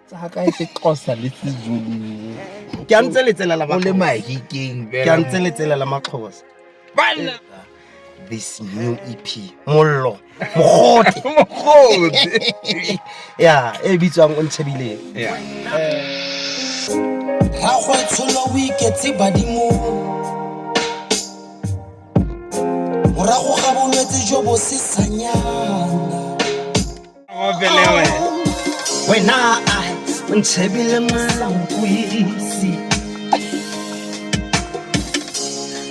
tsaka e sexhosa le sezulu ke a ntse letselela o le mahikeng ke a ntse letselela maxhosa banna this new ep mollo mogote mogote ya e bitswang o ntshebile ya ga go tsholo o iketse badimo morago ga bolwetse jo bo sesanyana wena a o ntshebile mwana o buisi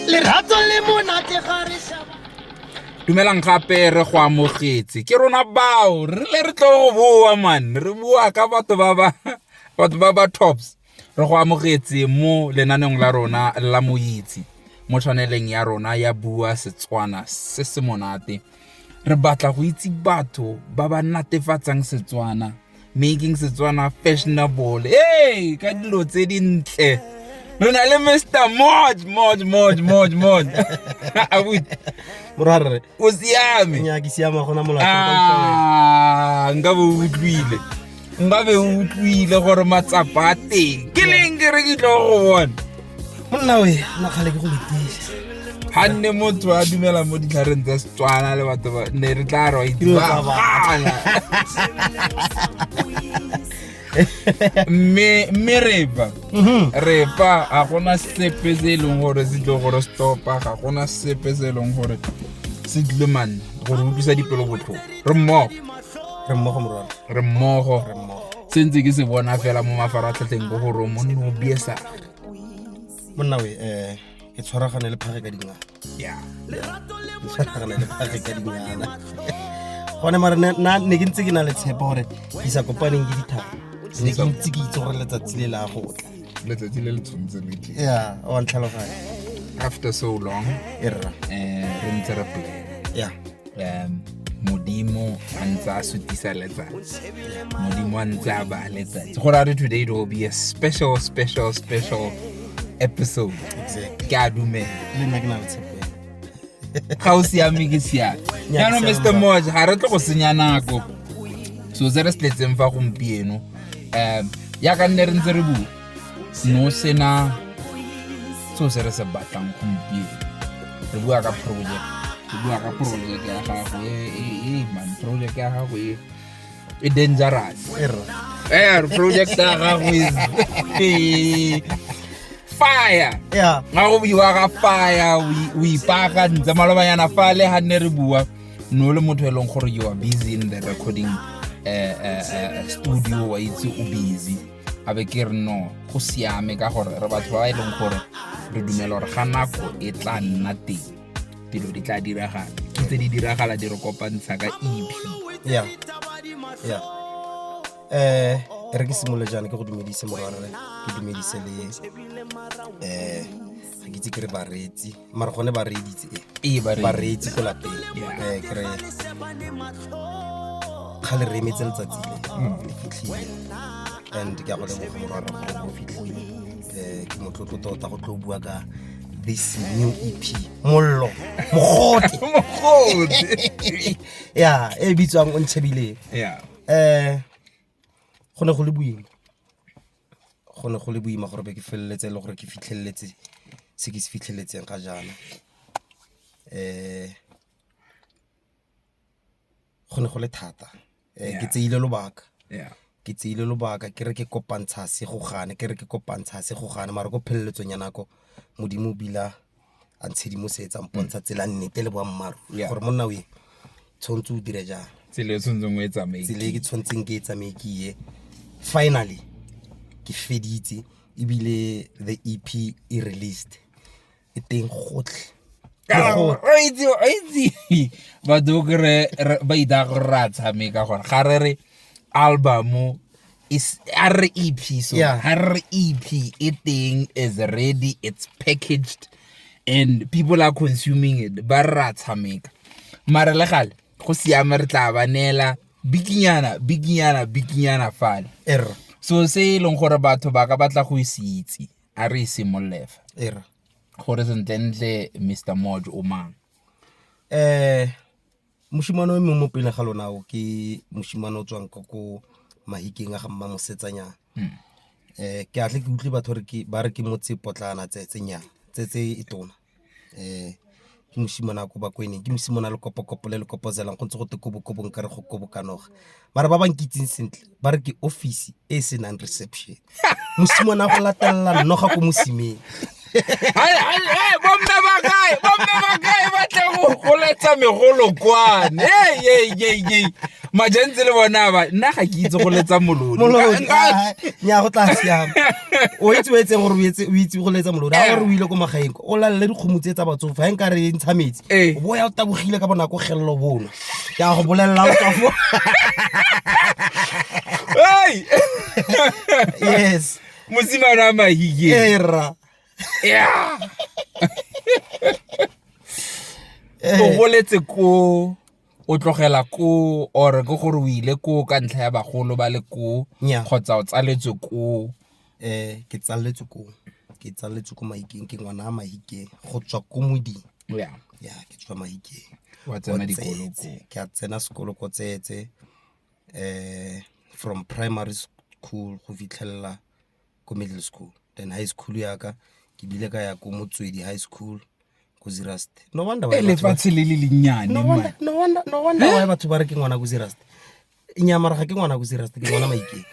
lerato le monate ga re shaba dumelang gape re go amogetse ke rona bao re le re tlo go boa man re boa ka batho ba ba batho ba ba tops Re go amogetse mo lenaneong la rona la Moitse mo tshwaneleng ya rona ya Bua Setswana se se monate. Re batla go itse batho ba ba natefatsang Setswana, making Setswana fashionable. Hey, ka dilo tse dintle. Re na le Mr. Moj, Moj, Moj, Moj, Moj. Abuti, Morwarre, o siame. nya ke siama gona molato. Ah, nka bo o utlwile. nka be o utlwile gore matsapa a teng ke leng ke re ke tlo go bona monna o na kgale ke go letisa ga nne motho a dumela mo ditlhareng tsa setswana le batho ba ne re tla re wa itibabana mme mme repa mhm. repa ga gona sepe se e leng gore se tle gore stopa ga gona sepe se e leng gore se tlile manne gore utlwisa dipelo botlhoko re mmogo re mmogo morwana re mmogo se ntse ke se bona fela mo mafaratlhatlheng bo gore mo nno biesa monna we um ke tshwaragane le phage ka dingana ya ke tshwaragane le phage ka dingana gone mare ne ke ntse ke na le tshepa gore ke sa kopaneng ke dithaba ne ke ntse ke itse gore letsatsi le la go tla letsatsi le le tshwanetse le tle ya wa ntlhaloganya after so long e rra um re ntse re pele ya um modimo a ntse a sutisa letsatsi modimo a ntse a ba letsatsi go ra re today it will be a special special special episode ke a dumela ga o siame ke siame jaanong mr moja ga re tle go senya nako so se re se tletseng fa gompieno um yaka nne re ntse re bua no sena seo se re se batlang gompieno re bua ka project re bua ka project ya gago e, e, e man project ya gago e e dangerous eh project ya gago is e, fire yeah ga go buiwa ka fire o ipaka ntse malobanyana fa le ga nne re bua no le motho e leng gore you are busy in the recording uh, uh, uh, studio wa itse o busy a be ke re no go siame ka gore re batho ba e leng gore re dumela gore ga nako e tla nna teng dilo di tla diragala ke tse di diragala di re kopantsha ka ep ya ya eh re ke simole jaana ke go dumedise morwarre ke dumedise le eh ga ke itse ke re bareetsi mara gone ba reeditse ee ba reetse ko lapeng ee kry ga le remetse letsatsi le mm. le fitlhile and ke a go leboga morwaka go fitlhile um ke motlotlo tota go tlo bua ka this new ep mollo mogote mogote ya e bitswang o ntshebile um go ne go le boima go ne go le boima gore be ke feleletse e le gore ke fitlheletse se ke se fitlheletseng ga jaana go ne go le thata um ke tseile lobaka ke tseile lobaka ke re ke kopantsha se go gane ke re ke kopantsha se go gane mare ko pheleletsong ya nako modimo o bila a ntshedimosetsa mpontsha tsela nnete le boammaaruri gore monna o ye tshwanetse o dire jang tsela e tshwanetseng o e tsamaye tsela e ke tshwanetseng ke e tsamaye ke ye finally ke feditse ebile the ep e released e teng gotlhe itse itse batho kere ba ita gore re a tshameka gore ga re re album is REP. So yeah. REP it thing is ready, it's packaged and people are consuming it. Ba ra tshameka. Mara le gale go siame re tla ba neela bikinyana bikinyana bikinyana fale. Er. So se e leng gore batho ba ka batla go se itse a re simollefa. Er. Gore sentle ntle Mr. Moj o mang. Eh Mosimane o emeng mo pele ga lona o ke mosimane o tswang ka ko mahikeng a ga mma mosetsanyana um ke atle ke utlwe batho ba re ke motse potlana tsetsenyana tsetse e tona um ke mosimane a ko bakweneng ke mosimane a lekopokopo le le kopozelang go ntse go te kobokobong ka re go kobokanoga. mara ba ba nkitseng sentle ba re ke office e e senang reception mosimane a go latelela nnoga ko mosimeng bomme ba kae bomme ba kae ba tle go goletsa megolo kwane eyeyeye majantse le bona ba nna ga ke itse go letsa molodi nya go tla siama o itse o etseng gore o itse go letsa molodi a gore o ile ko magaeng o lalele dikgomo tse tsa batsofe ga e nka re ntsha metsi o bo ya o tabogile ka bonako gelelo bono ke a go bolelela o tswa fo Hey! yes mosimane wa mahike ee rra Yeah. Eh. o boletse ko o tlogela ko or ke gore o ile ko ka ntlha ya bagolo ba le ko Nnyaa. kgotsa o tsaletswe ko Ke tsaletswe koo, ke tsaletswe ko Mahikeng, ke ngwana wa Mahikeng go tswa ko Moding. Ya, ke tswa Mahikeng ko Tsetse. Ke a tsena sekolo ko Tsetse from primary school go fitlhelela ko middle school, then high school ya ka ke bile ka ya ko Motswedi high school ko Zeerust. No wonder why batho ba re ke ngwana ko Zeerust. inyamara ga ke ngwana ko serasta ke ngwana maikeng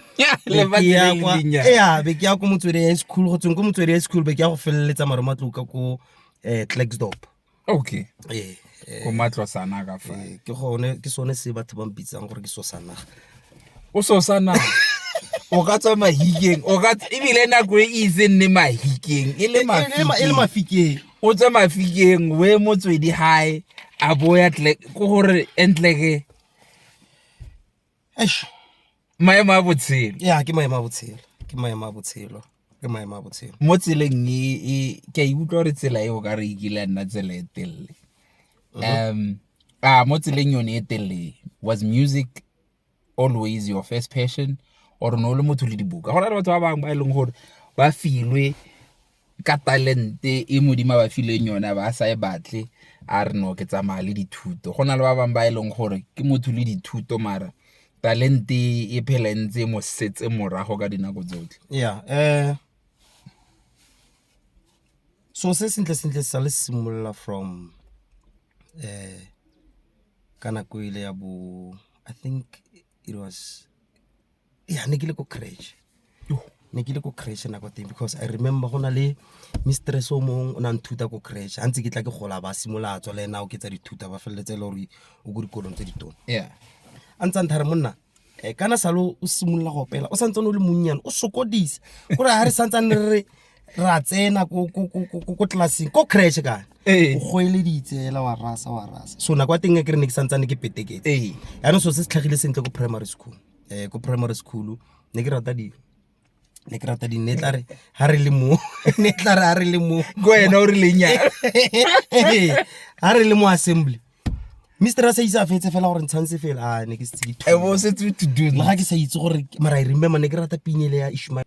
be ke ya ko motswedi ya school go tsweng ko motswedi ya school be ke ya go feleletsa mare matloka ko um clackstop okay ee ko matlosana ka fa eh, ke gone ke sone se batho ba mpitsang gore ke sosana o sosana o ka tswa mahikeng o ka ebile nako e itse nne mahikeng e le e mafikeng o tswa mafikeng we motswedi hae a boya ko gore entleke maemo a botshelo ya ke maemo a botshelo ke maemo a botshelo ke maemo a botshelo mo tseleng e, e ke a ikutlwa gore tsela eo ka re e kile nna tsela e telele mhm. um a mo tseleng yone e telele was music always your first passion or ne o le motho le dibuka go na le batho ba bangwe ba e leng gore ba filwe ka talente e modimo ba fileng yone ba sa e batle a re no ke tsamaya le dithuto go na le ba bangwe ba e leng gore ke motho le dithuto mara talente e phela e ntse mo setse morago ka dinako tsotlhe yeah eh so se sentle sentle sa le simolola from eh ka nako ile ya bo i think it was ya ne ke le ko crash ne ke le ko crash nako teng because i remember go na le mistress o mongwe o ne a nthuta ko crash ga ntse ke tla ke gola ba simolola tswa le ena o ke tsa dithuta ba feleletse e le gore o ko dikolong tse ditone yeah a ntsa nthare monna eh, kana salo o simolola go opela o santsane o le monnyane o sokodisa gore ga re santsane re re ra tsena ko- ko- ko- ko- ko- ko tlelaseng ko crash kana Ee. o goeleditse ela wa rasa wa rasa so nako ya teng e ke re ne ke santsane ke peteketse ee yaanong so se se tlhagile sentle ko primary school um ko primary school ne ke rata dino ne ke rata dino ne tla re ga re le mo ne tla re ga re le mo ko wena o re lenyana ga re le mo assembly mister a sa itse a fetse fela gore ntshantse fela a ne ke setse ke ga ke sa itse gore mara i remember ne ke rata pinele ya ishmael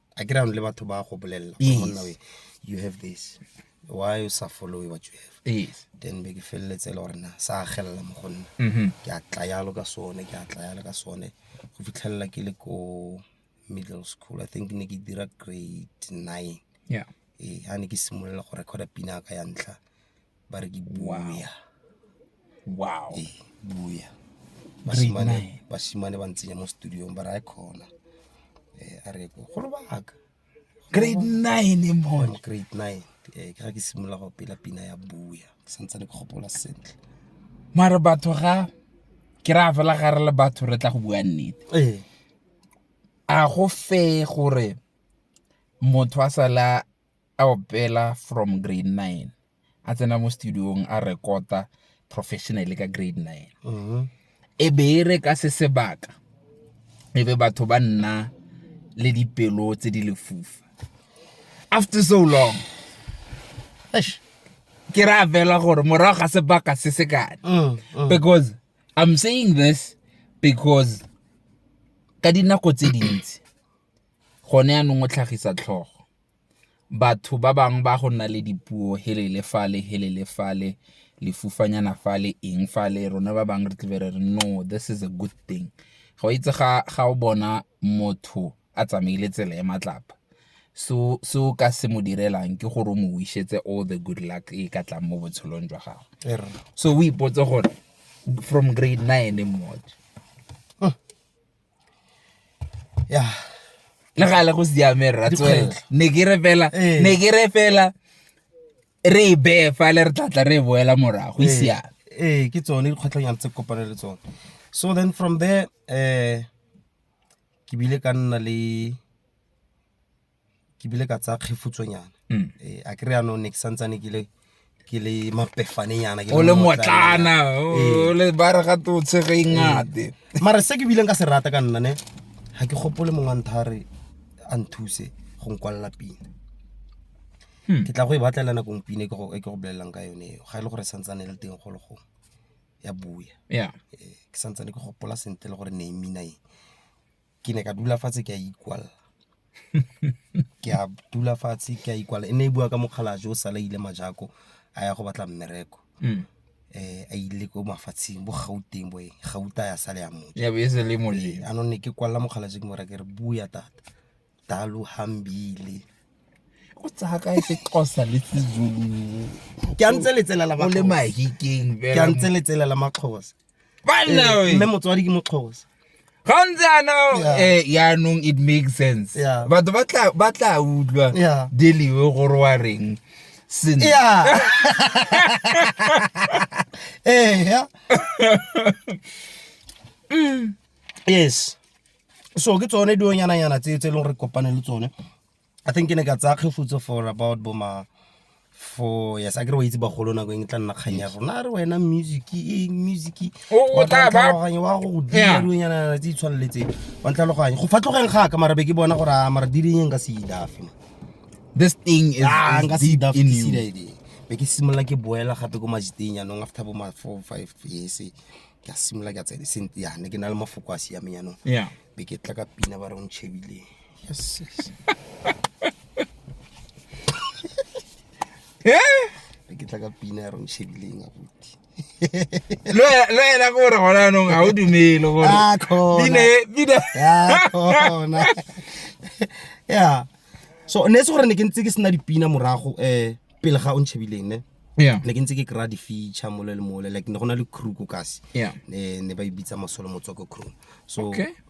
a ke rano le batho ba go bolelela monna we you have this why you sa follow what you have yes. then be ke feleletse e le gore na sa agelela mo go nna mm-hmm. ke a tla yalo ka sone ke a tla yalo ka sone go fitlhelela ke le ko middle school i think ne ke dira grade nine yeah. e ga ne ke simolola go recorda pina ka ya ntlha ba re ke buya wow ee buya basimane basimane ba ntsenya mo studiong ba re a khona eh a re go lo baka grade 9 e mona grade 9 eh ke ga ke simolola go pela pina ya buya ke santse le gopola sentle mara batho ga ke ra fela ga re le batho re tla go bua nnete ee a go fe gore motho a sala a opela from grade nine, a tsena mo studio-ng a record-a professionally ka grade nine. Mm-hmm. E be e re ka se sebaka, e be batho ba nna le dipelo tse di lefufa. After so long, eish, ke ra fela gore morago ga sebaka se se kane mm, mm. because i'm saying this because ka dinako tse dintsi Gone yanong o tlhagisa tlhogo. Batho ba bangwe ba go nna le dipuo helele fale, helele fale, lefufanyana fale, eng fale, rona ba bangwe re tla be re re no this is a good thing. Ga o itse ga o bona motho a tsamaile tsela ya matlapa, se o ka se mo direlang ke gore o mo wish-etse all the good luck e ka tlang mo botshelong jwa gagwe. So o ipotse gore from grade nine mo. ya le ga le go siame rra tswela Dikgwetlho. ne ke re fela Ee. ne ke re fela re e beye fa le re tlatla re e boela morago e siame ee ke tsone dikgwetlhonyana tse ke kopane le tsone so then from there um ke bile ka nna le ke bile ka tsaya kgefutsonyana mm. eh, a kry anong ne ke santsane ke le ke le mapefanenyana o le motlana o le ba re ga totshe ge ingate mm. mara se ke bileng ka se rata ka nna ne ga ke gopole mongwe wa ntha re a nthuse go nkwalela pina hmm. ke tla go e batlela nakong pina e ke go e bolelelang ka yone eo ga e le gore santsane e le teng go le gong ya buya eh, ke santsane ke gopola sentle le gore ne e mina e ke ne ka dula fatshe ke a ikwalla ke a dula fatshe ke a ikwalla e ne e bua ka mokgalajwe o sala ile majako a ya go batla mmereko mm. eh a ile ko mafatsheng bo gauteng bo eng gauta ya sale ya motho ya be se le moje eh, anone ke kwalla mokgalajwe ke mora ke re bua tata dalu hambile o tsa ka se qosa le tsizulu ke a ntse letselela ba le mahikeng ke a ntse letselela maxhosa mme motswadi ke moxhosa ga o ntse yana eh, yaanong it makes sense batho ba tla utlwa deliwe gore wa reng sene eh, yes so ke tsone dionyananyana tse tse e leng gore kopane le tsone i think ke ne ka tsaya kgefutso for about bo ma for yes a kere wa itse bagolo nako eng e tla nna kgang ya rona a re wena music eng music wa go godilonyana tse di tshwaneletseng wa ntlhaloganye go fatlogeng ga ka mara be ke bona gore a mara direnyeng ka sedafe this thing is, ah, is deep in you be ke simolola ke boela gape ko majiteng yanong after bo ma four five years ke a simolola ke a tsele sente yane ke na le mafoko a siameng yanong be ke tla ka pina ba re o ntšhebile ke tla ka pina ya rong shebileng abuti lo ena ko gore gona anong ga o dumele gorebinaona ya so ne se gore ne ke ntse ke sena dipina morago um pele ga o ntšhebileng ne ne ke ntse ke kry-a di-feature mole le mole like ne go na le crew ko kasi ne ba e bitsa masolo motswako crew so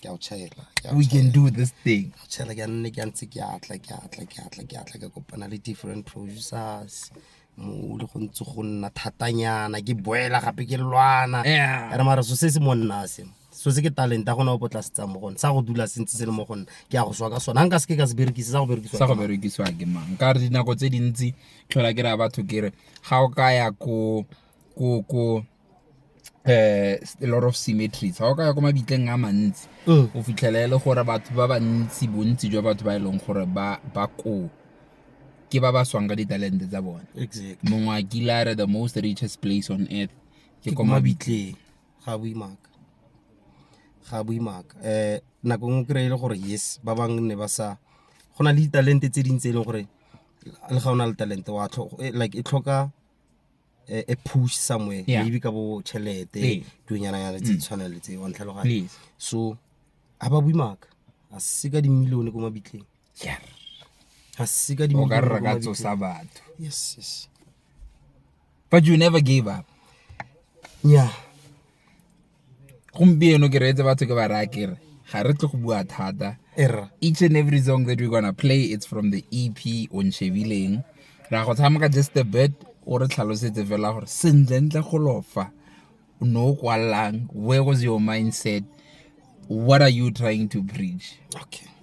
ke a o tšhaela we can do this thing ke a o tšhaela ke a nne ke a ntse ke atla ke atla ke atla ke atla ke kopana le different producers mo le go ntse go nna thatanyana ke boela gape ke lwana ere mara so se se mo nna se so se ke talent a gona o potla se tsang mo gone sa go dula se ntse se le mo gone ke ya go swa ka sona nka se ke ka se berekise sa go berekiswa sa go berekiswa ke mang ka re dinako tse dintsi tlhola ke re ya batho ke re ga o ka ya ko ko ko eh a lot of symmetries ga o ka ya ko mabitleng a mantsi mm. o fitlhela e le gore batho ba bantsi bontsi jwa batho ba e leng gore ba ba koo ke ba ba swang ka ditalente tsa bone mongwe a kile a re the most richest place on earth ke ko mabitleng ga boimaka ga boimaka um eh, nako ngwe kry-e le gore yes ba bangwe ne ba sa go na le ditalente tse dintsi e leng gore le ga o na le talente wa eh, like e tlhoka a, a push somewhere Yeah. maybe ka bo Ee. tšhelete dunyana-nyana tse di tshwanang le tse wa ntlhaloganya Please. so ga ba bui maaka ga se ka dimilione ko mabitleng Yeah. ga se ka o ka dimilione re ko re ka mabitleng. tsosa batho yes yes but you never gave up nya gompieno ke reetse batho ke ba raya kere ga re tle go bua thata each and every song that we're gonna play it's from the ep o nchebileng ra go tshameka just a bit o re tlhalosetse fela gore sentlentle go lofa o ne o kwalelang where was your mindset what are you trying to preach okay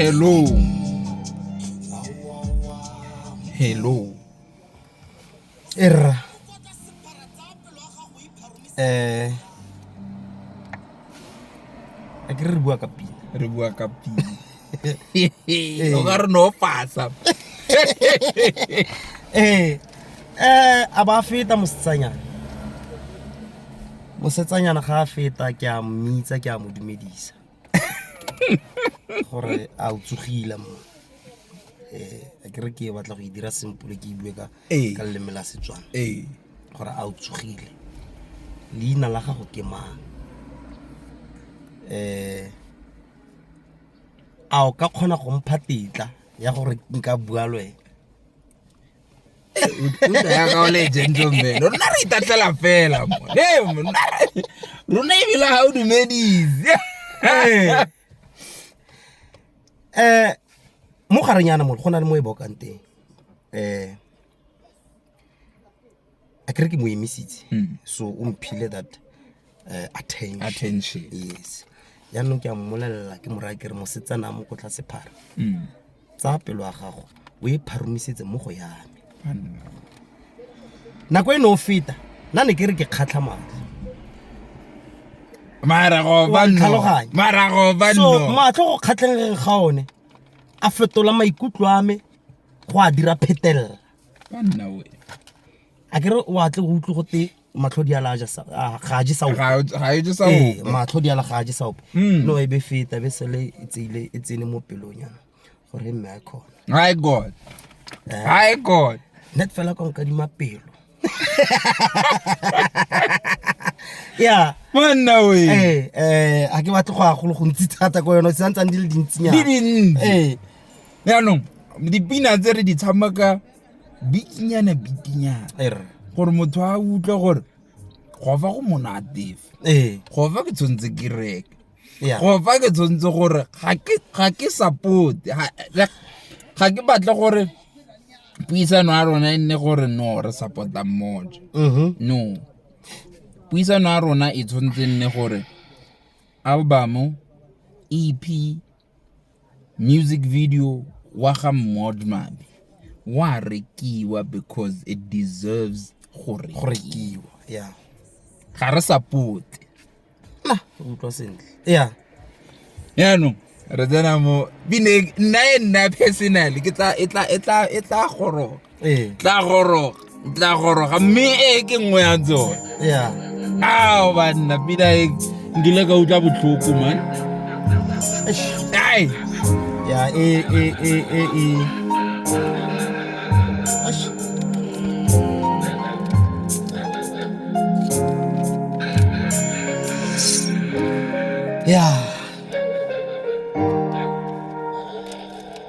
Hello. Hello. Erra. Eh. A ke re bua ka pina. Re bua ka pina. o ka re no pasa ee um a ba feta mosetsanyana mosetsanyana ga a feta ke a mmitsa ke a mo dumedisa gore a o tsogile mo um ke re ke batla go e dira sempole ke e bue ka leleme la setswana gore a o tsogile leina la gago ke mang um a o ka kgona go mpha tetla ya gore nka bua le wena rona re itatlela fela rona ebile ga o dumedise um mo garenyana mo go na le mo e bokang teng um a kere ke mo emisitse mm. so o mphile that uh, attention. attention yes jaanong ke a mmolelela ke moraya ke re mosetsana a mo ko tlase phara mm. tsa pelo ya gago o e pharomisetse mo go yame nako e ne o feta nna ne ke re ke kgatlha madi maragobanmarago matlho go kgatlheng ga one a fetola maikutlo a me go a dira phetelela ka nna o a kere o atle go utlwe gote matlho di ala ga je sa ga e je sa ee, o matlho di ala ga je sa o hmm. no e be feta be sele e tsile e tsene mo pelong yana gore mme a khona my god eh. my god net fela ka nka di mapelo ya monna o eh eh a ke batle go a go go ntsi thata go yona se ntsang di le dintsinyana di dinne eh jaanong dipina tse re di tshamaka bikinyana bikinyana er. gore motho a utlwe gore go fa go monatefe ee. go fa ke tshwanetse ke reke go fa ke tshwanetse gore ga ke support ga ke batle gore puisano ya rona e nne gore no re supporta mmoja mm-hmm. no puisano ya rona e tshwanetse e nne gore album ep Music video wa ga Modmabi wa rekiwa because it deserves go rekiwa. Yeah. Ga re support. Na, utlwa sentle. Yeah. Yaanong re tsena mo bineng nna e nna personally ke tla e tla e tla e tla goroga. tla goroga tla goroga mme e ke nngwe ya tsone ao banna pina e nkile ka utlwa botlhoko man ai ya e e e e e Yeah.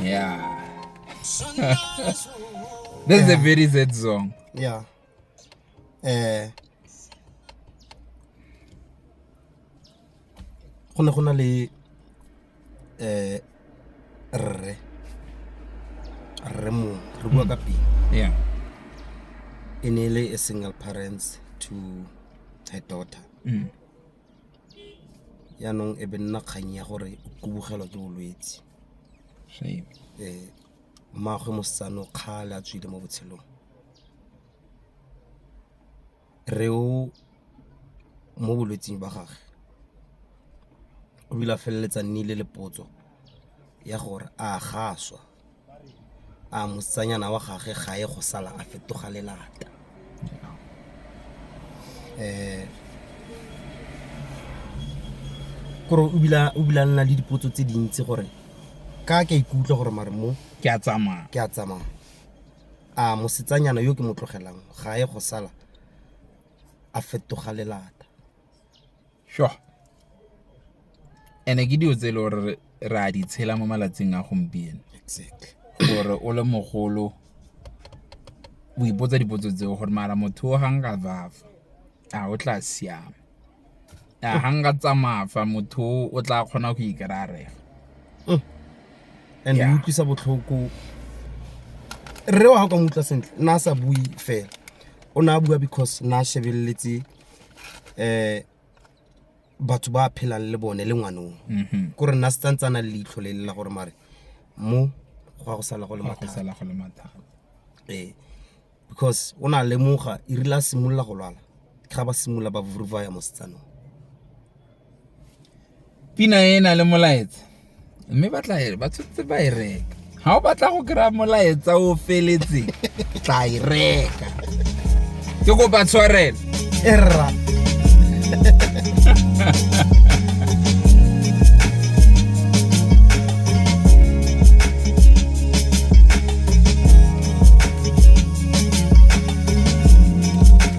Yeah. This is a very Z song. Yeah. Eh. Go ne go na le eh rre rre mo re bua ka hmm. pele. Yeah. E ne le a single parents to her daughter. Mm. yaanong e be nna kgang ya gore o kubogelwa ke bolwetse Mmaagwe mosetsana o kgale a tswile mo botshelong. Rre o mo bolwetsing ba gage o ile a feleletsa a nnile le potso ya gore a ga a swa. a mosetsanyana wa gage ga e go sala a fetoga lelata um kore o bila nna le dipotso tse dintsi gore ka ke a ikutlwa gore mare mo ke a tsamaya ke a tsamaya a mosetsanyana yo ke mo tlogelang ga e go sala a fetoga lelata And-e ke dilo tse e le gore re a di tshela mo malatsing a gompieno. Exactly. Gore o le mogolo o ipotsa dipotso tseo gore mara motho o ga nka vafa a o tla siama. A ga nka tsamaya fa motho o tla kgona go ikry-a mm. And e utlwisa botlhoko. Rre wa gago ka mo utlwa sentle, nna a sa bue fela. O ne a bua because nna a shebeletse. eh batho ba phelang le bone le ngwanong mhm. ko re nna se tsantse a na le leitlho le lela gore mare mo go ya go sala go le mathata ee because o na lemoga e rile a simolola go lwala ga ba simolola ba vuruvaya mo setsanong Pina e na le molaetsa mme ba tla e ba tshotse ba e reka. Ha o batla go kry-a molaetsa o feletse tla e reka. Ke kopa tshwarelo. Erra.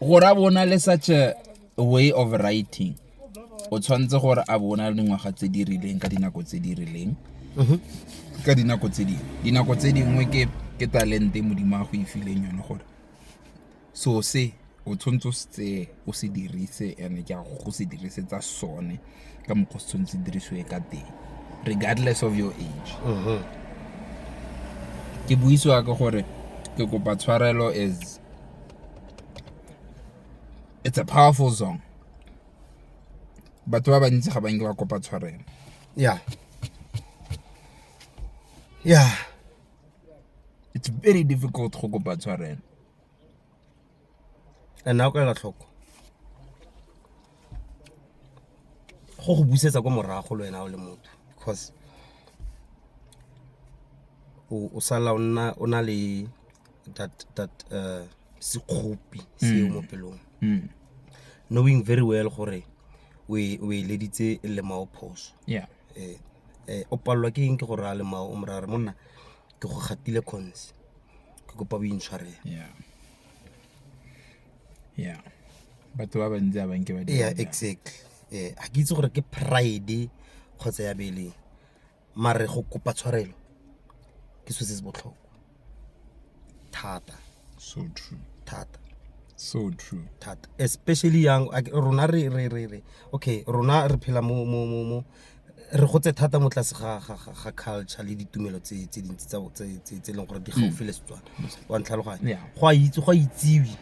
gore a bona le such a way of writing o tshwanetse gore a bona le dingwaga tse di rileng ka dinako tse di rileng mhm. ka dinako tse dingwe dinako tse dingwe ke ke talente modimo a go e fileng yone gore so se o tshwanetse o se o se dirise and ke a go se dirisetsa sone ka mokgwa se tshwanetse dirisiwe ka teng regardless of your age mhm. ke buisiwa ka gore ke kopa tshwarelo as It's a powerful song. Batho ba bantsi ga ba nke ba kopa tshwarelo. Yeah. Yeah. It's very difficult go kopa tshwarelo. And now ka la tlhoko. Go go busetsa kwa morago le wena o le motho because o sala o na le that that uh, sekgopi seo mo pelong Mm. knowing very well gore o e o e leditse lemao phoso Yeah. eh eh, o palelwa ke eng ke gore a lemao o morare monna ke go gatile cons ke kopa o intshwarele Yeah. Yeah. Batho ba bantsi a banke ba dira yeah jalo. exactly eh ga ke itse gore ke pride kgotsa ya beleng mare go kopa tshwarelo ke selo se se botlhokwa thata so true thata so true thata especially young rona re re re re okay rona re phela mo mo mo mo re gotse thata mo tlase ga ga ga culture le ditumelo tse tse dintsi tsa tse tse leng gore di hmm. gaufi le Setswana wa ntlhaloganya go a itse go a itsiwi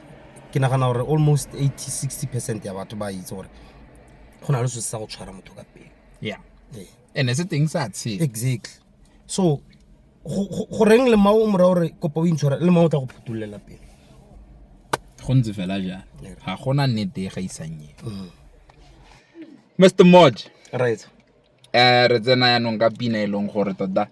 ke nagana gore almost 80 60 percent ya batho ba itse gore go na le se sa go tshwara motho ka pele yeah ene se teng sa tshela exactly so go reng le mao mora gore kopa o intshwara le mao o tla go phutololela pele go ntse fela jang ga gona nnete e gaisang e mr mm. moj right um re tsena yanong ka pina e leng gore tota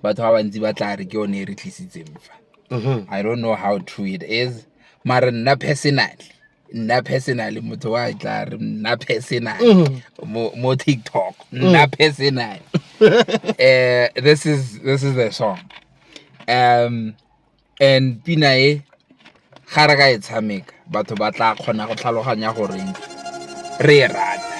batho ba bantsi ba tla re ke yone e re tlisitseng fa mm-hmm. i don't know how true it is mare nna personally nna personal motho wa tla re nna personal mm-hmm. mo mo TikTok mm. nna personal eh this is this is the song um and pina e ga re ka e tshameka batho ba tla kgona go tlhaloganya gore re e rata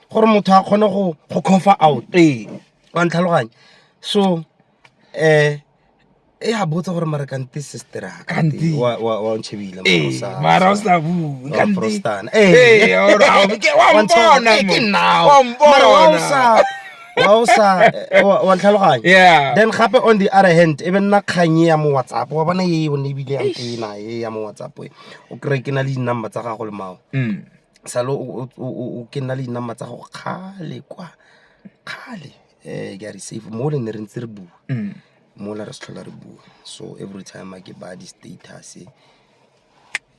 gore motho a kgone go cover out ee wa ntlhaloganya so um e a botsa gore mara kante sister wa ntšhebile mara o sa bueprostana ee wa ntlhaloganya then gape on the other hand e be nna kganye ya mo whatsapp wa bona e o ne ebile ya ntena e ya mo whatsapp e o kry ke na le di-number tsa gago le mao mm. sale o ke nna le dinama tsa go kgale kwa kgale um ke a re safe mo le ne re ntse re bua mm. mola re se tlhola re bua so every time a ke ba di-status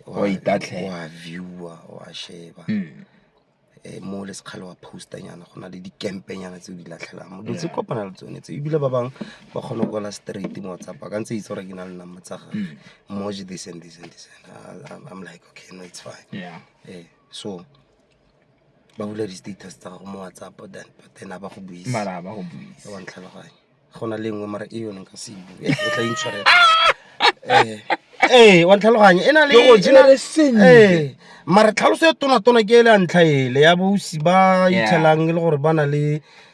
wa viewer wa sheba um mo le sekgale wa postanyana go na le dikempenyana tse o di latlhelang mo dutse kopana le tsone tse ebile ba bangwe ba kgone go kwala straight mo whatsapp a ka ntse itse gore ke na le nama tsa gage mm. moje this and this and this I'm, I'm like okay no it's fine yeah. eh, so ba bula di-status tsa gago mo whatsapp then but then a ba go buise mara ba go buise wa ntlhaloganye go na le nngwe mara e yone ka se bue e tla intshwarela eh eh wa ntlhaloganye e na le go jena le seng eh mara tlhaloso ya tona tona ke e le ntlha ele ya bosi ba ithelang e le gore ba na le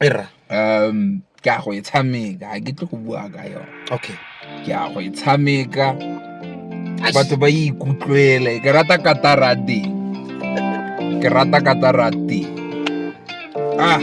e ra um ke a go e tshameka ga ke tle go bua ka yone okay ke a go e tshameka batho ba e ikutlwele ke rata katara teng ke rata katara teng ah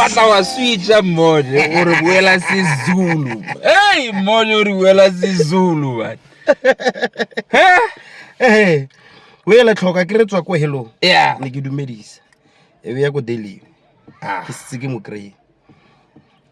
wa tla wa switša mmone o re boela sezulu ei mmone o re boela sezulu bane ee o ele tlhoka ke re tswa ko helong ya ne ke dumedisa e be ya ko daily ke setse ke mo kry-e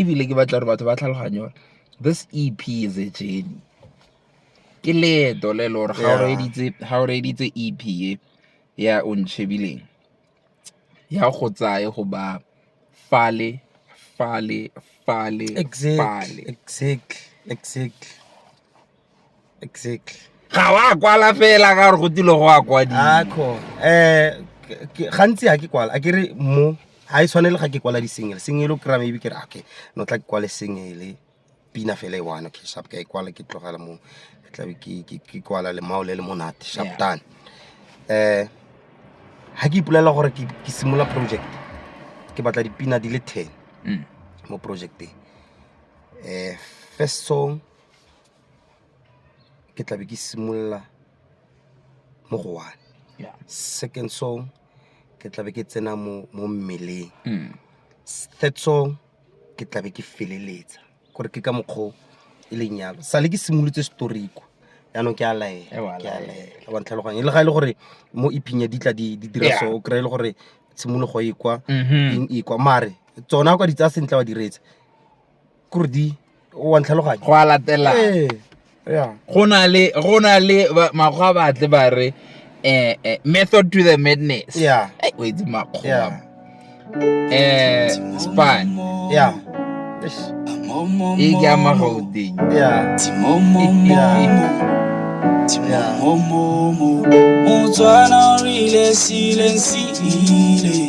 ebile ke batla gore batho ba tlhaloganye gore this E_P is a journey. Ke leeto le le gore ga o reeditse E_P e ya O Nchebileng, ya go tsaya go ba fale, fale, fale, fale. Exactly, exactly. exactly ga wa kwala fela ka gore go tile go a kwadisa um eh, gantsi ga ke kwala a ke re mo ga e tshwanele ga ke kwala di-single single o kry-a maybe ke re okay no tla ke kwale single pina fela e one okay sharp ka e kwala ke tlogela mo ke tlabe ke kwala lemao le le monate sharp done um ga ke ipolelela gore ke simolola project ke batla dipina di le ten mm. mo projecteng um eh, first song ke tla be ke simolola mo go one Yeah. second song ke tla be ke tsena mo mo mmeleng Mm. S- third song ke tla be ke feleletsa gore ke ka mokgwa o e leng yalo sale ke simolotse storiko yaanong ke a laela Ewa, ke a laela. laela wa ntlhaloganya e le ga e le gore mo iphing ya ditla di di dira Yeah. so o kry-e le gore tshimologo e kwa Mhm. eng e kwa mare tsona o ka di tsaya sentle wa diretsa kore di wa ntlhaloganya go a latela ee ya go na le go na le ba- makgwa ba tle ba re eh, eh, method to the madness Yeah. Eh, o itse makgwa ya eh span ya Eish. e ke ama gauteng ya motswana o rile sileng se ile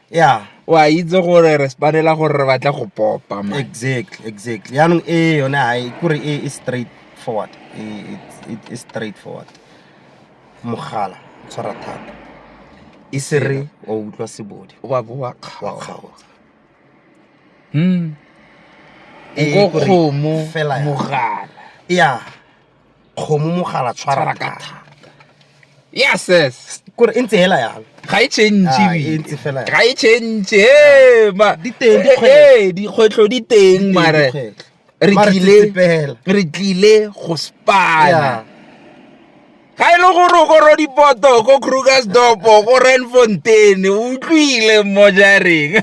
ya o a itse gore re spanela gore re batla go popa exactly exactly yaanong e yone ga e kore e, e straight forward e, e, e straight forward mogala tshwara thata e se re wa utlwa sebodi wa bo wa kgaotsa hmm. e kgomo mogala ya kgomo mogala tshwara ka thata ya ses kore e ntse hela yalo ga e change ah, e ntse fela ga e change eh, ma di teng eh, di kgwetlo di teng mare re tlile re tlile go spana ga e le gore o koro dipoto ko krugersdopo go renfontaine o utlwile mo jareng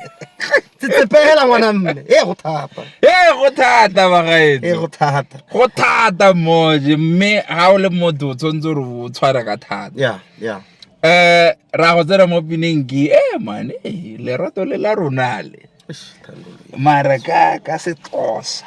tsetsepegela ngwana mme e go thata e go thata bagaetso e go thata go thata moje mme ga o le motho o tshwanetse gore o tshware ka thata ya ya um ra go tsena mo pineng ke e eh, mane lerato le la ronale mara ka ka setosa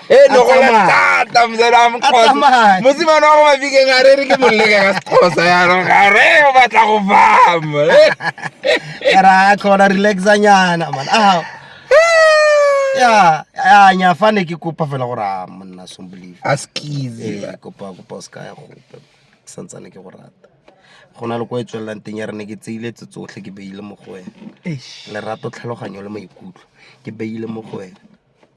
e ne go le thata mzamkgosa mosimane wa go mabikeng a re re ke molleke ka sekgosa yanong ga re o batla go fama ra tlhola relaxanyana man a ya ya nya fa ne ke kopa fela gore a monna sombolive a skize eh, kopa kopa o se ka ya gope ke santsane ke go rata go na le kwa e tswelelang teng ya re ne ke tseile tse tsotlhe ke beile mo go wena lerato tlhaloganyo le maikutlo ke beile mo go wena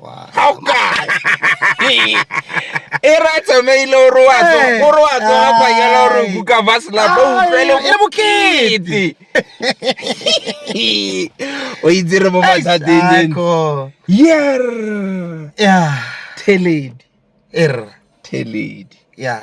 Wow. ga o kae e ra tsamaile o re wa tso- o re wa tsoga kwa yela o re kuka baselapa o utlwele Ai, e bokete o itse re mo mathateng then Ako. yer Yeah. theledi Er. theledi Yeah.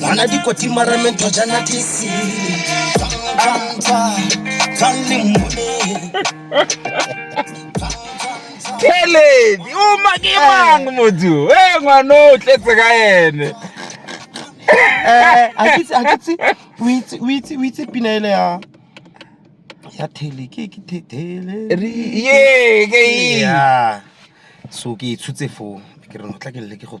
Mwana dikoti mara mento jana tisi. Anta, tanli mune. Keledi, o makemang motho. Eh ngwana o tletse ka ene. Eh, a ke tse a ke tse o itse o itse o itse pina ele ya ya thele ke ke the- thele. Ye, ke e. Yeah. So ke e tshutse foo. Ke re no tla ke le ke go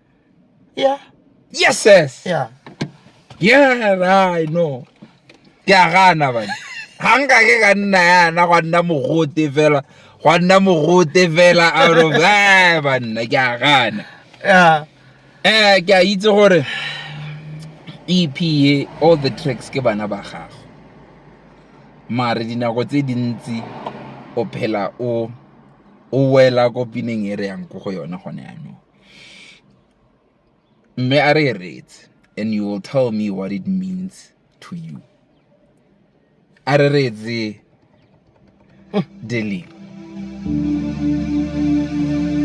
yeah yes yes yeah yeah i know ke a gana bana ga nka ke ka nna yana gwa nna mogote fela gwa nna mogote fela out of eh banna ke a gana yeah eh ke a itse gore EP e, all the tracks ke bana ba gago mare dinako tse dintsi o phela o o wela ko pineng e re yang ko go yone gone yanong Mme a re reetse and you will tell me what it means to you. A re reetse dealing.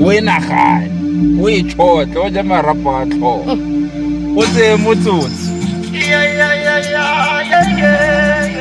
O e nagane, o e tshotle, o je marapo a tlhogo. O tseye motsotsi. Yeah.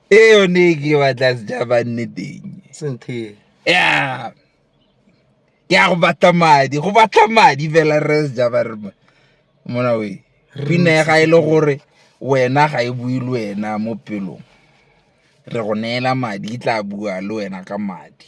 e yone e ke batla sejaba nne teng senthe ya ke ya go batla madi go batla madi fela re sejaba re mona we pina ya ga e le gore wena ga e bue le wena mo pelong re go neela madi e tla bua le wena ka madi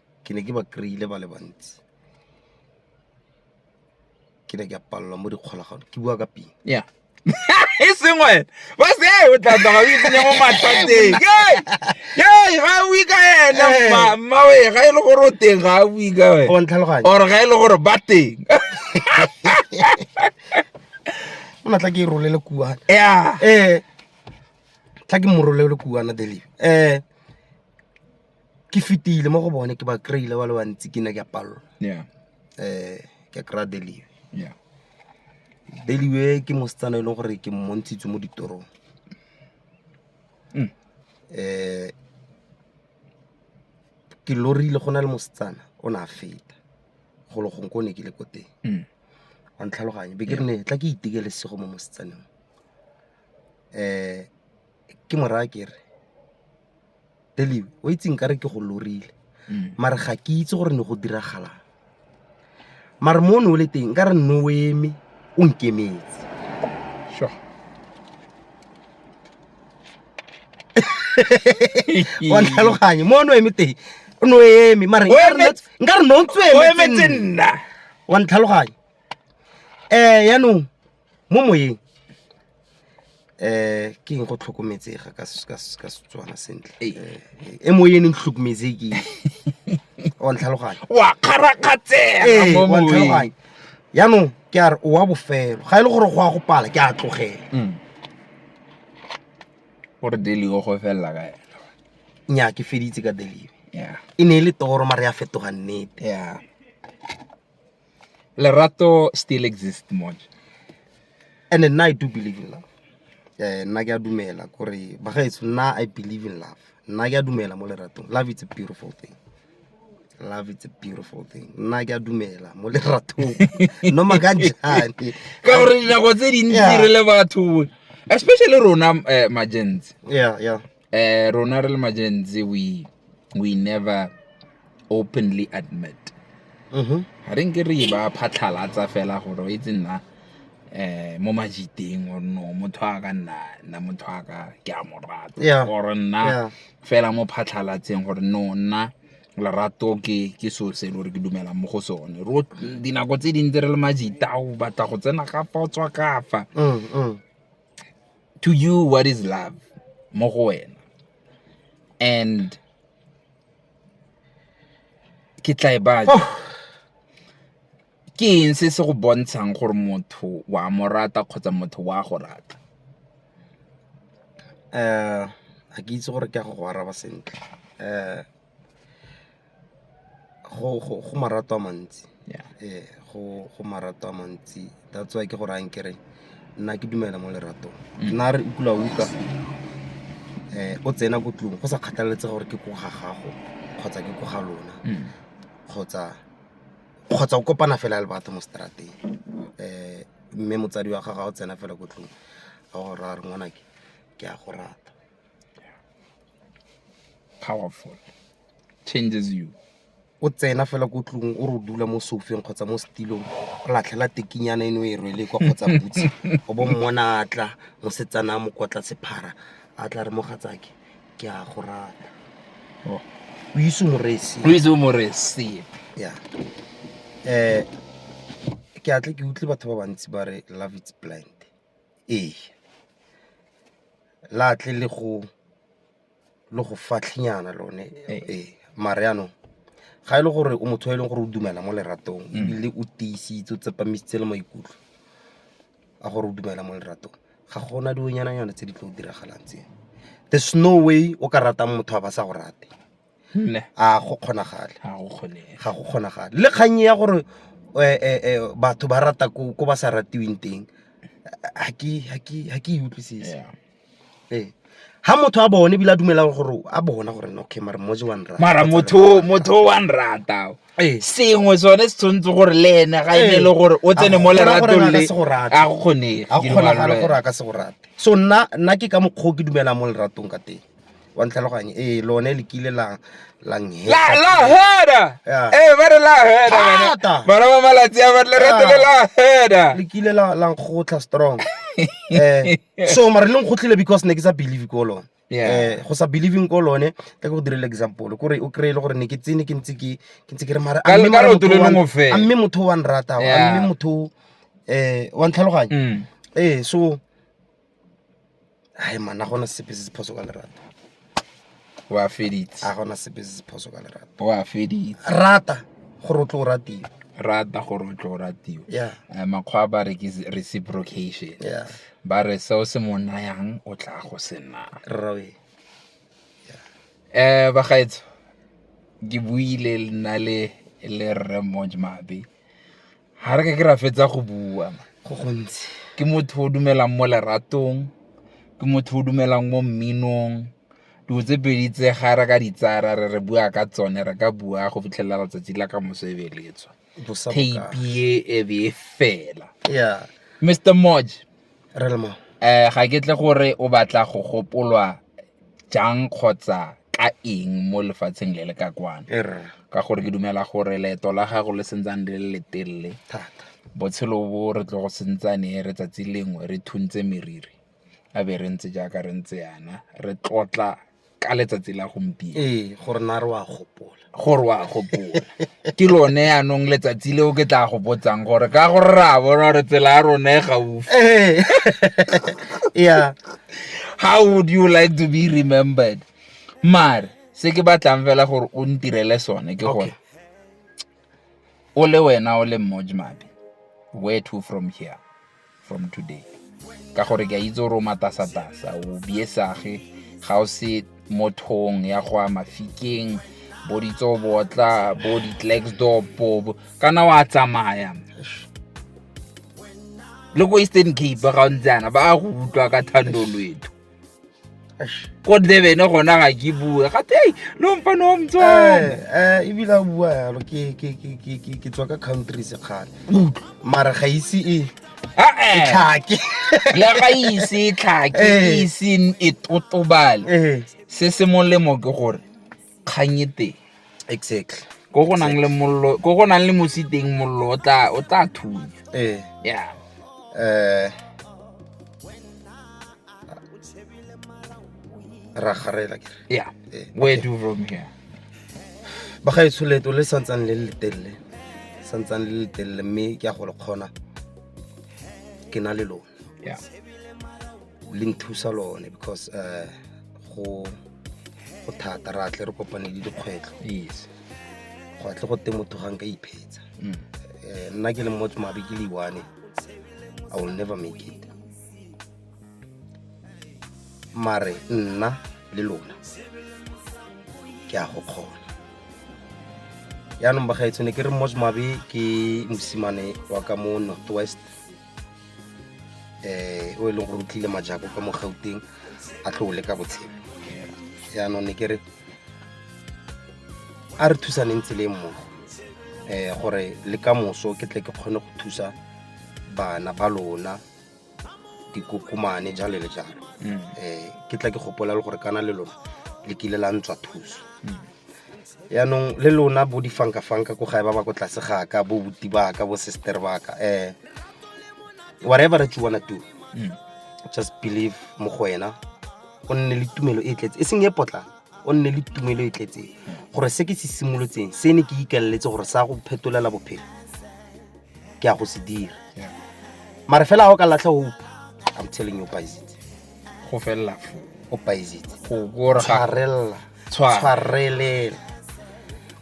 ke ne ke ba kry-ile ba le bantsi ke ne ke a palelwa mo dikgolagano ke bua ka pina yeah e seng wena ba se e o tla tloga o itsenya mo mathateng ee ga o ika ena eh. mma we ga e le gore o teng ga o ika we or ga e le gore ba teng o na tla ke e rolele kuana ya ee tla ke mo rolele kuana delive um eh. ke fetile mo go bone ke ba kry-ile ba le bantsi ke ne ke a palelwa yeah um ke kry-a deliwe yeah deliwe ke mosetsana e leng gore ke mmontshitse mo ditorong Mm. um ke lorile go na le mosetsana o ne a feta golo gong ko o ne ke le ko teng Mm. wa ntlhaloganye be ke re ne tla ke itekele sego mo mosetsaneng um ke moraya ke re Delibe, o itse nkare ke go lorile mare ga ke itse gore ne go diragalang mare mo o ne o le teng nkare nne o eme o nkemetse sure wa tlhaloganye mo o ne o eme teng o ne o eme mare O nkare emetse- nna- nkare ne o ntse o o emetse emetse nna wa ntlhaloganye um yaanong mo moyeng um ke eng go tlhokometsega ka setswana sentle e moyeng eng tlhokometseke wa ntlhaloganya wa kgarakgatsega yaanong ke a re o wa bofelo ga e le gore go ya go pala ke a tlogela mm. gore delio go felela ka ena nya ke feditse ka delio e ne e le toro mare ya fetoga nnete lerato still exist mone and nna i do believe in love um nna ke a dumela kore bagaetso nna i believe in love nna ke a dumela mo leratong love it's a beautiful thing love it's a beautiful thing nna ke a dumela mo leratong noma ka njane ka gore dinako tse dintsi re le batho especially rona um eh, magents yeah yeah um rona re le magenzi we we never openly admit mm-hmm. ga re nke re ba phatlhalatsa fela gore o itse nna eh mo majiteng or no motho a ka nna nna motho a ka ke a mo rata or nna fela mo phatlhalatseng gore no nna lerato ke ke so se le gore ke dumelang mo go sone ro dinako tse dintsi re le majita o batla go tsena ka fa o tswa kafa mm, mm. to you what is love mo go wena and ke tla e batla oh. ke eng se se go bontshang gore motho wa mo rata kgotsa motho wa go rata um ga ke itse gore ke a go go araba sentle um go marato a mantsi ee go marato a mantsi that's why ke go rayang kere nna ke dumela mo leratong mm. nna re utlwa utlwa um o tsena ko tlong go sa kgathaletse gore ke ko ga gago kgotsa ke ko ga lona mm. kgotsa kgotsa o kopana fela le batho mo strateng um eh, mme motsadi wa gago ga o tsena fela ko tlong a go raya re ngwanake ke a go rata powerful changes you o tsena fela ko tlong o re dula mo sofeng kgotsa mo setilong o latlhela tekinyana eno e rwele kwa kgotsa butse o bo mmona a tla mosetsana a mokotla sephara a tla re mogatsake ke a go rata oh. o ise moresi o ise moresi ya um ke atle ke utlwe batho ba bantsi ba re love its blind Ee, la tle le go fatlhenyana lone ee mare yanong ga e le gore o motho yo e leng gore o dumela mo leratong ebile o tiisitse o tsepamisitse le maikutlo a gore o dumela mo leratong ga gona dilonyana nyana tse di tlo diragalang tseo there's no way o ka ratang motho a ba sa go rate. nne a go kgonagale ga go kgonege ga go kgonagale le kgang ya gore eh, eh, eh, batho ba rata ko ko ba sa ratiweng teng ha ke ha ke ha ke e utlwisise Yeah. ee ha motho a bone ebile a dumela gore a bona gore no, okay mara moje wa nrata mara motho motho o wa nrata o. Ee. sengwe sone se tshwanetse gore le ene ga e ne Ee. le gore o tsene mo A go kgona gore leratong a ka le se go rate. ga go kgonege ga go kgonagale gore a ka se go rate so nna nna ke ka mokgwa o ke dumelang mo leratong ka teng wa ntlhaloganye ee lone le kile la la nhe- la heda Yeah. ee ba re la heda bana. Thata. bana ba malatsi a batle rete le la heda le kile la la nkgotlha strong eh so mara le nkgotlhile because ne ke sa believe ko lone Yeah. eh go sa believing ko lone ka go direla example kore o kry e le gore ne ke tsene ke ntse ke ke ntse ke re mara Ka- amme ka mara leoto motho le wa- lengwe fela. amme motho wa nrata Yeah. amme motho eh wa ntlhaloganya Mm. eh so hai mana gona sepe se se phoso ka lerato wa feditse a gona sepe se se phoso ka lerato wa feditse rata gore o tlo o ratiwa rata gore o tlo o ratiwa yeah. Eh, makgwa ba re ke reciprocation yeah. ba re seo se mo nayang o tla go se nna rrawe yeah. eh bagaetso ke buile nna le le rre mojmabe ga re ke ke ra fetsa go bua go gontsi ke motho o dumelang mo leratong ke motho o dumelang mo mminong dilo tse pedi tse ga re ka ditsara re re bua ka tsone re ka bua go fitlhelela letsatsi la ka moso e beletswa tape e e be e fela mr moj Relma. Eh, ga ke tle gore o batla go gopolwa jang kgotsa ka eng mo lefatsheng le le ka kwana er. ka gore ke dumela gore leeto la gago le sentsane le le letelele botshelo bo re tlo go sentsane re tsatsi lengwe re thuntse meriri a be re ntse jaaka re ntse yana re tlotla ka letsatsi la gompieno ee gore na re wa gopola gore wa gopola ke lone yaanong letsatsi leo ke tla go botsang gore ka gore re a bona gore tsela ya rona e gaufi ee yeah how would you like to be remembered mare se ke batlang fela gore o ntirele sone ke gore o le wena o le mmojmabe where to from here from today ka gore ke a itse gore o matasatasa o biesage ga o se mo thong ya go a mafikeng bo ditsobotla bo di-claxdopo kana wa tsamaya le ko eastern cape ga o ntse yana ba go utlwa ka thando lwetho ko ndebene gona ga ke bue gate ei no mpa no mtswana eh, eh, ebile o bua yalo ke tswa ka country sekgale mara ga ise e tlhake ya ga ise e tlhake e iseng e totobale se se molemo ke gore kgang e teng exactly ko go nang le mollo ko go nang le mosi teng mollo o tla o tla thunya eh yeah eh ra garela ke yeah eh, where do from here ba ga itsholeto le santsang le le telle santsang le le telle mme ke a go le kgona ke na le lone yeah le nthusa lone because uh go go thata ra tle re kopane le dikgwetlho yes go atle go teng motho ga nka iphetsa mm. eh, nna ke le motho mabe ke leiwane i will never make it mare nna le lona ke a go kgona yaanong bagaetsone ke re mosmabe ke mosimane wa ka mo northwest um o e leng gore o tlile majako ka mo gauteng a tlo o leka botshelo jaanong ne ke re a re thusaneng tseleng mmogo um gore le ka moso ke tle ke kgone go thusa bana ba lona dikokomane jalo le jalo um ke tla ke gopola le gore kana le lona le kile la ntswa thuso yaanong le lona bo difankafanka ko gae ba ba ko tlase ga ka bo buti ba ka bo sister ba ka um whatever that you wanna do mm. just believe mo go wena o nne le tumelo e tletse e seng e potlana o nne le tumelo e tletseng gore se ke se simolotseng se ne ke ikeleletse gore sa go phetolela bophelo ke ya go se dira mare fela ga o ka latlha hope i'm telling you paisitse go felela fo o paisitse go tshwarella tshwareleng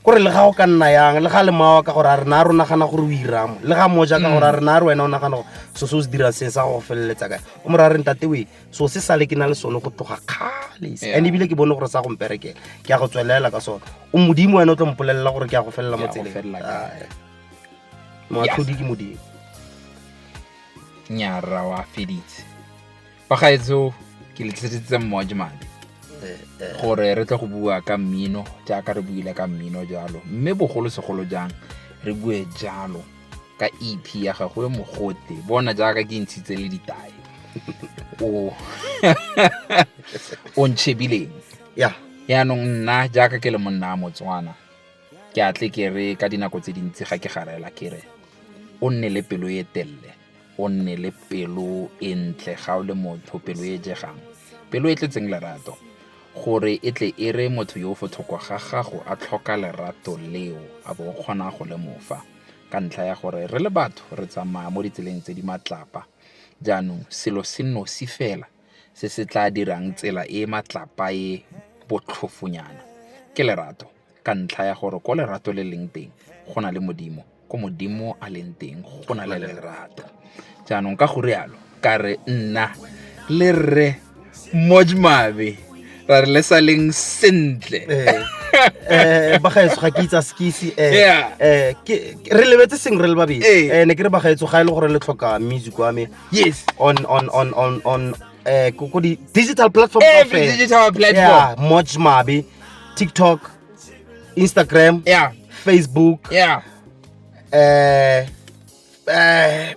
kore le ga o ka nna yang le ga le mawa ka gore a rena a re o nagana gore o iramo le ga moja ka gore a rena a re wena o nagana gore so se o se dirang se sa go feleletsa kae o mora re ntate we so se sale ke na le sone go tloga kgale and ebile ke bone gore sa go mperekela ke ya go tswelela ka sone o modimo wena o tlo mpolelela gore ke ya go felela mo tseleng moatlhodi ke modimo nyarra wa feditse bagaetso ke letliseditse mmoa ke madi eh, eh. gore re tle go bua ka mmino jaaka re buile ka mmino jalo mme bogolosegolo jang re bue jalo ka ep ya gago e mogote bona jaaka ke ntshitse le ditae o o ntshebileng ya yaanong nna jaaka ke le monna a motswana ke atle ke re ka dinako tse dintsi ga ke garela ke re o nne le pelo e telele o nne le pelo e ntle ga o le motho pelo e jegang pelo e tletseng lerato gore e tle e re motho yo o fo thoko ga gago a tlhoka lerato leo a bo o kgona go le mofa ka ntlha ya gore re le batho re tsamaya mo ditseleng tse di matlapa jaanong selo se nosi fela se se tla dirang tsela e matlapa e botlhofonyana ke lerato ka ntlha ya gore ko lerato le leng teng go na le modimo ko Modimo a leng teng go na le lerato. Jaanong ka go rialo ka re nna le rre Mojmabe ra re le sa leng sentle. Eh, eh bagaetso ga ke itsa skisi eh, eh re lebetse seng re le babedi eh. eh ne ke re bagaetso ga e le gore le tlhoka music wa me yes on on on on on eh ko di digital platform every digital platform yeah much mabe tiktok Instagram, yeah. Facebook, yeah. eh eh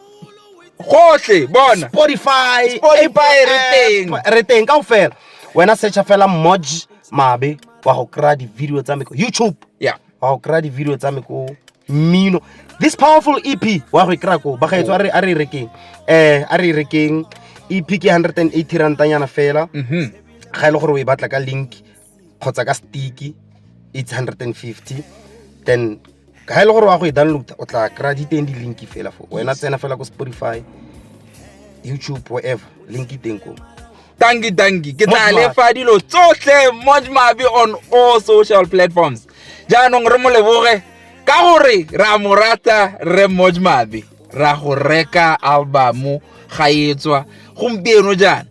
gotlhe bona Spotify, Spotify re teng. eh, re teng kaofela. Wena searcha fela Moj Mabe wa go kry-a di-video tsa me ko YouTube. Yeah. wa go kry-a di-video tsa me ko mmino this powerful ep wa go e kry-a ko bagaetso a re a re e rekeng um a re e rekeng ep ke 180 rantanyana fela ga e le gore o e batla ka link kgotsa ka stick it's hundred and fifty then ga e le gore wa go e download o tla kry-a di teng di-link fela fo wena tsena fela ko spotify youtube whatever link teng ko tanki tanki ke tla lefa dilo tsotlhe mojmabe on all social platforms jaanong re mo leboge ka gore ra mo rata re mojmabe ra go reka albumu ga etswa gompieno jaana